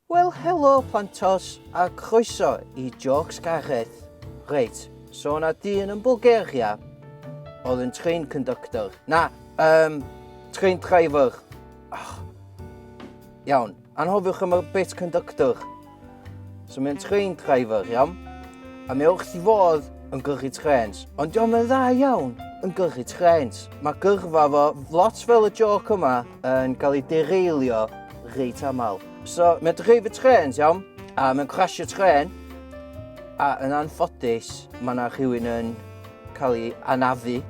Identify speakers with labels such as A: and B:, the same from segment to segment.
A: Wel helo Plantos a croeso i Jôcs Gareth. Reit, so o' 'na dyn yn Bwlgaria oedd yn train conductor, na, um, train driver. Oh. Iawn, anhofiwch am y bit conductor. So mae'n train driver, iawn? A mae wrth i fodd yn gyrru trens. Ond diolch yn dda iawn yn gyrru trens. Mae gyrfa fo, lot fel y joc yma, yn cael ei dereilio reit aml. So, mae'n dreif y trens, iawn, a mae'n crasio tren, a yn anffodus, mae yna rhywun yn cael ei anafu.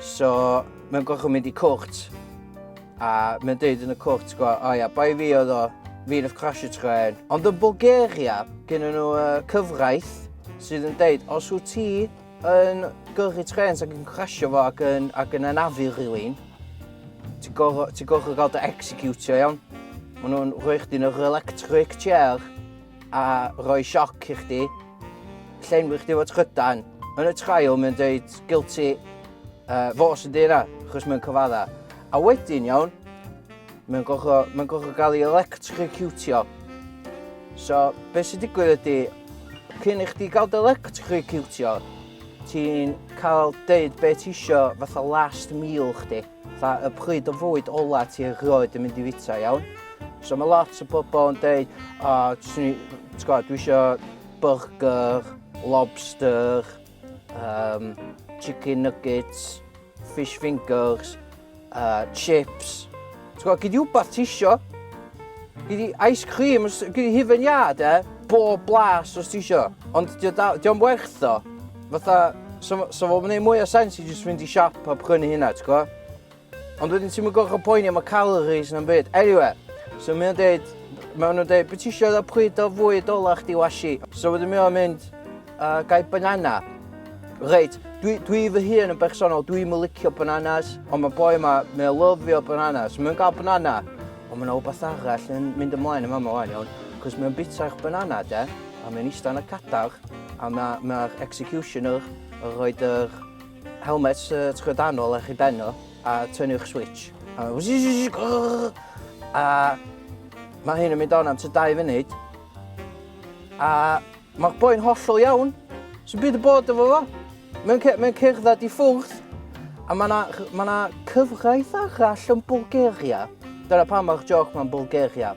A: So, mae'n gorfod mynd i cwrt, a mae'n dweud yn y cwrt, gwa, o ia, bai fi oedd o, fi oedd crasio tren. Ond yn Bulgaria, gen nhw uh, cyfraith sydd yn dweud, os wyt ti Yn gyrru trens ac yn crasio fo ac yn, ac yn anafu rhywun. Ti'n gorfod ti gorfod gael dy executio iawn. Maen nhw'n rhoi chdi yn yr electric chair a rhoi sioc i chdi. Llenwi chdi fod trydan. Yn y trial mae'n dweud guilty uh, fo sy'n dweud yna, achos mae'n cyfadda. A wedyn iawn, mae'n gorfod, mae gorfod gael ei electrocutio. So, beth sy'n digwydd ydy, Cyn i chdi gael dy lectriciwtio, ti'n cael deud be ti isio fatha last meal chdi, fatha y pryd o fwyd ola ti erioed yn mynd i fita, iawn? So mae lot o bobl yn deud, o, oh, dwi eisiau burger, lobster, Um, chicken nuggets, fish fingers, uh, chips. Ti'n gwybod, gyda wbeth ti isio. Gyda ice cream, gyda hufen ia, de. Bob blas os ti isio. Ond diolch werth o. Fatha, so, so fo'n gwneud mwy o sens i jyst fynd i siop a prynu hynna, ti'n gwybod? Ond wedyn ti'm yn gorfod poeni am y calories na'm byd. Anyway, so mae o'n deud, mae nhw'n deud, be ti eisiau dda pryd o fwyd ola chdi washi? So wedyn mae o'n mynd, uh, gai banana. Reit, dwi, dwi fy hun yn bersonol, dwi'n mynd licio bananas, ond mae boi yma, mae o'n lyfio bananas. Mae'n gael banana, ond mae yna rhywbeth arall yn mynd ymlaen yma yma o'n iawn, cos mae'n bita'r banana, de, a mae'n eistedd yn y cadar, a mae'r mae executioner yn rhoi'r Helmet trydanol ar chi ben o, a tynu'ch switch. A, a mae hyn yn mynd on am ty dau funud. A mae'r boi'n hollol iawn. Sy'n byd y bod efo fo. Mae'n mae cerdded i ffwrdd. A mae yna ma na cyfraith arall yn Bulgaria. Dyna pam mae'r joc mae'n Bulgaria.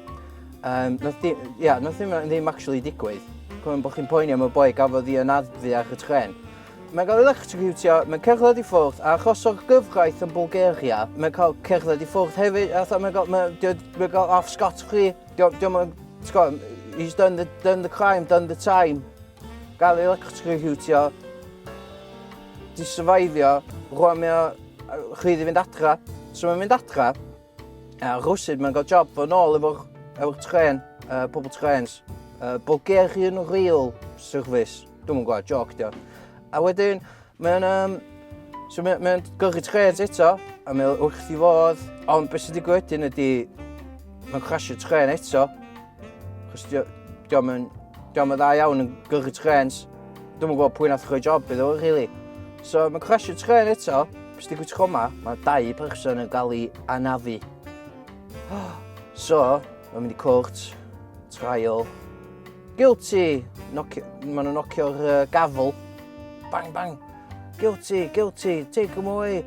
A: Um, nath di, yeah, nath ddim, ddim actually digwydd. Cofyn bod chi'n poeni am y boi gafodd i yn adfu ar y tren. Mae cael electrocutio, mae cerdded i ffwrdd, a achosodd gyfraith yn Bulgaria, mae cael cerdded i ffwrdd hefyd, a mae cael, mae, mae cael off scot free, diolch yn, he's done the, done the crime, done the time. Gael ei electrocutio, di survivio, rwan mae o rhydd i fynd adra. So mae'n mynd adra, A rhywsyd mae'n cael job fo nôl efo'r efo'r tren, uh, pobl trens. Uh, Bulgarian Rail Service. Dwi'n gwybod, joc dio. A wedyn, mae'n... Um, so mae'n mae gyrru trens eto, a mae'n wrth i fodd. Ond beth sy'n digwydd wedyn ydy... Mae'n crasio tren eto, Chos diolch yn diolch yn dda iawn yn gyrru trens. Dwi'n gwybod pwy nath rhoi job iddo, really. So mae'n crasio tren eto, bys di gwytio coma, mae dau person yn gael ei anafu. So, mae'n mynd i cwrt, trial, guilty, maen nhw'n nocio'r uh, gafel, bang bang, guilty, guilty, take them away,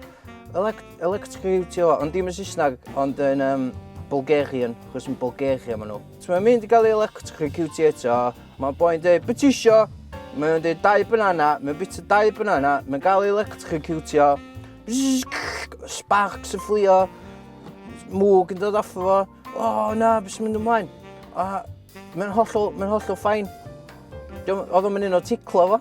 A: elect Electrocutio, ond dim yn Saesneg, ond yn um, Bulgarian, chos yn Bulgaria maen nhw. So mae'n mynd i gael ei electrocutio eto, mae'n boi'n dweud, beth isio? Mae'n dweud dau banana, mae'n bita dau banana, mae'n gael ei electrocutio, sparks yn fflio, mwg yn dod off o fo, o oh, na, beth sy'n mynd ymlaen? A mae'n hollol, mae'n hollol ffain. Oedd o'n mynd un o ticlo fo.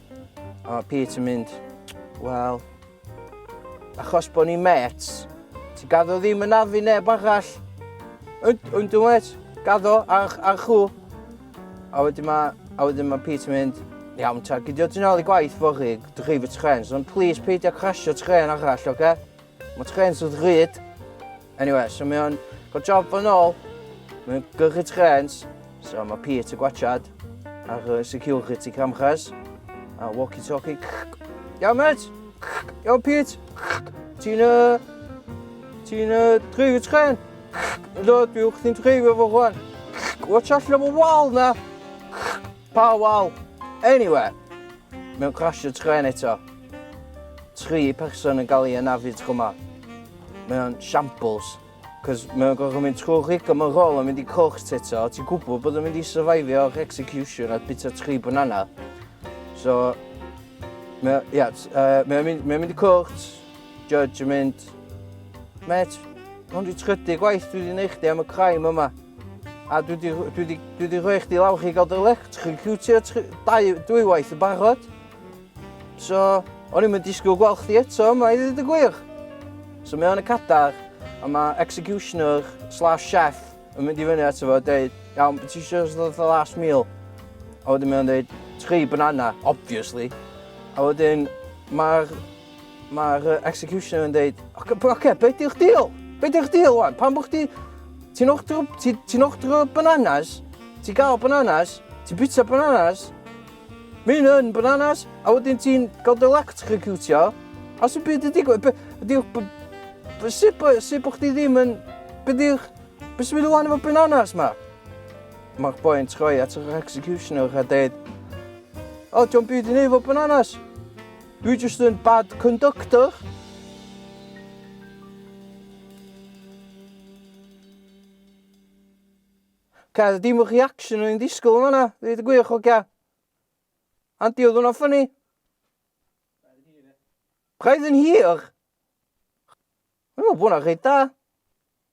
A: A mae Pete yn mynd, wel, achos bod ni'n met, ti gaddo ddim yn afu neb arall. Ond, ond dwi'n met, gaddo ar, ar chw. A wedyn mae, a wedyn mae Pete yn mynd, iawn ta, gydio ti'n ôl i gwaith fory, drif y tren, ond please peidio crasio tren arall, oce? Okay? Mae trens wrth ryd. Anyway, so mae o'n cael job fo'n ôl. Mae o'n gyrchu trens. So mae Pete y gwachad ar y security camchas. A walkie-talkie. Iawn, met! Iawn, Pete! Ti'n... Uh, ti'n uh, dreifio tren? Do, dwi wrth ni'n dreifio fo rwan. Watch allan am y wal na! Pa wal? Eniwe! Mae o'n crasio trên eto. Tri person yn gael ei anafu tro ma. Mae o'n shambles. Cos mae o'n gorfod mynd trwy'r rigo mae'n rôl yn mynd i cwrs eto. Ti'n gwybod bod o'n mynd i survivio'r execution a bita tri banana. So, mae o'n yeah, uh, mae o'n mynd, mae mynd i cwrs, judge yn mynd, met, hwn di trydy gwaith dwi wedi gwneud chdi am y crime yma. A dwi di, dwi di, dwi di rhoi chdi lawr chi gael dy electrocutio dwywaith yn barod. So, o'n i'n mynd disgwyl gweld chdi eto yma i ddweud y gwir. So mae o'n y cadar, a mae executioner slash chef yn mynd i fyny ato fo a dweud, iawn, beth ti eisiau ystod y last meal? A wedyn mae o'n dweud, tri banana, obviously. A wedyn, mae'r Mae'r uh, executioner yn dweud, oce, okay, okay, beth di'ch deal? Beth di'ch deal wan? Pan bod chdi, ti'n ochdro, ti, ti ochdro bananas, ti gael bananas, ti bita bananas, mynd yn bananas, a wedyn ti'n gael dy electrocutio, a sy'n byd yn digwydd, sut bod chdi ddim yn, beth di'ch, beth sy'n mynd wan efo bananas ma? Mae'r boi yn troi at yr executioner a dweud, o, oh, diolch byd i ni efo bananas. Dwi jyst yn bad conductor. Ca, dim y reaction o'n i'n disgwyl yn fanna, dweud y gwir, hogia. Andy, oedd hwnna'n ffynnu? Braidd yn hir? Dwi'n meddwl bod hwnna'n rhaid da.